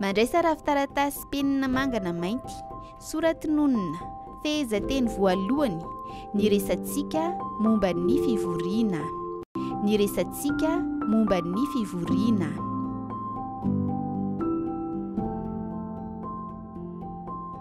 Mandraisa rafi-taratasy penina manga na mainty, soratinonina, fehezanteny voalohany, ny resantsika momba ny fivoriana. Ny resantsika momba ny fivoriana.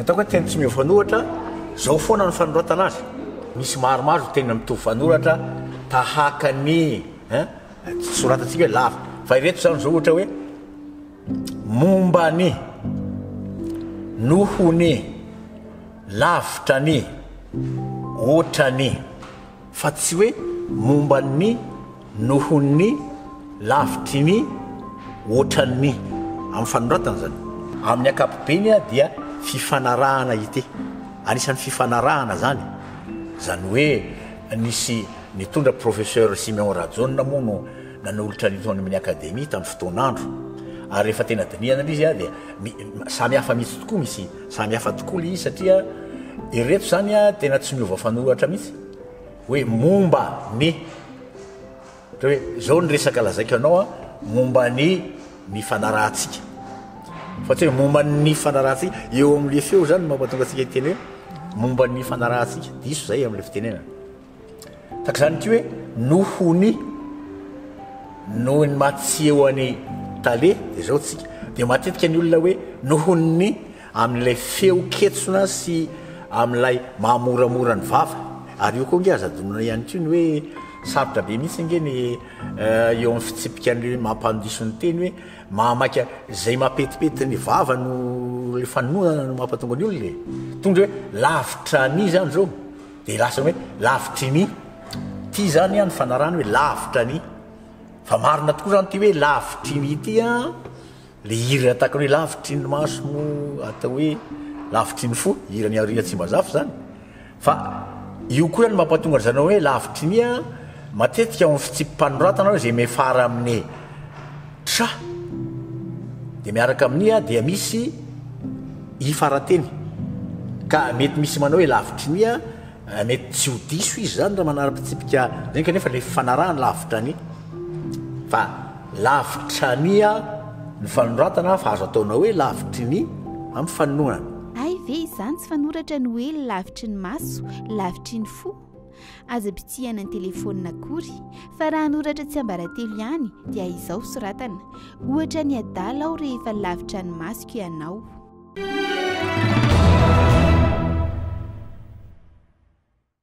Ataoko hoe teny tsy miova-nohatra, zao foana ny fanoratana azy. Misy maromaro teny mitovy fanoratra tahaka ny eh, soratantsika hoe lava. Fa ireto zany zao ohatra hoe momba ny nohony lavitra ny otrany fa tsy hoe momba ny, noho ny, lavitry ny, hoatran'ny. Amin'ny fanoratana izany. Amin'ny ankapobeny dia fifanarahana ity. Anisan'ny fifanarahana izany. Izany hoe nisy nitondra Professeur Siméon Rajaonina moa no nanolotra an'ito any amin'ny Akademia tamin'ny fotoan'andro. Ary rehefa tena dinihana ilay izy dia samy hafa mihitsy tokoa misy. Samy hafa tokoa le izy satria ireto zany a tena tsy miova fanoratra mihitsy hoe momba ny ohatra hoe zao ny resaka lazaiko anao a momba ny ny fanarahantsika fa tsy hoe momba ny fanarahantsika eo am'le feo zany no mampatonga antsika hiteny hoe momba ny fanarahantsika diso zay am'le fitenenana Tahaka izany ity hoe noho ny, noho ny maha tsy eo an'i Tale dia izao tsika. Dia matetika ny olona hoe noho ny amin'ilay feo ketsona sy amin'ilay maha moramora ny vava. Ary io koa ange aza adinona ihany koa ny hoe sarotra be mihitsy ange ny eo amin'ny fitsipika ny maha mpandiso ny teny hoe maha maika izay maha petipety ny vava no ilay fanononana no maha mpahatonga ny olona e. Tondra hoe lavitra an'i izany izao. dia lasa hoe lavitry ny ity izany ny fanarahana hoe lavitra ny fa marina tokoa izany ity hoe lavitry ny ity a le hira ataka hoe lavitry ny maso mo atao hoe lavitry ny fo hira ny arina tsy mba zafy izany fa io koa ihany mampatonga ry zareo hoe lavitry ny a matetika ao amin'ny fitsipi-panoratana hoe izay mefara amin'ny Cha. Dia miaraka amin'ny a dia misy i farateny. Ka mety misy manao hoe lavitry ny a, mety tsy ho diso izy izany raha manara-pitsipika izany kanefa ilay fifanarahany lavitra ny. Fa lavitra ny a ny fanoratana fa azo ataonao hoe lavitry ny amin'ny fanohanana. Hay ve izany tsy fanoratra ny hoe lavitry ny maso, lavitry ny fo? Aza bitsihana ny telefaonina akory, fa raha hanoratra tsiambaratelo ihany dia izao soratana, ohatra ny adala aho rehefa lavitra ny masoko ianao.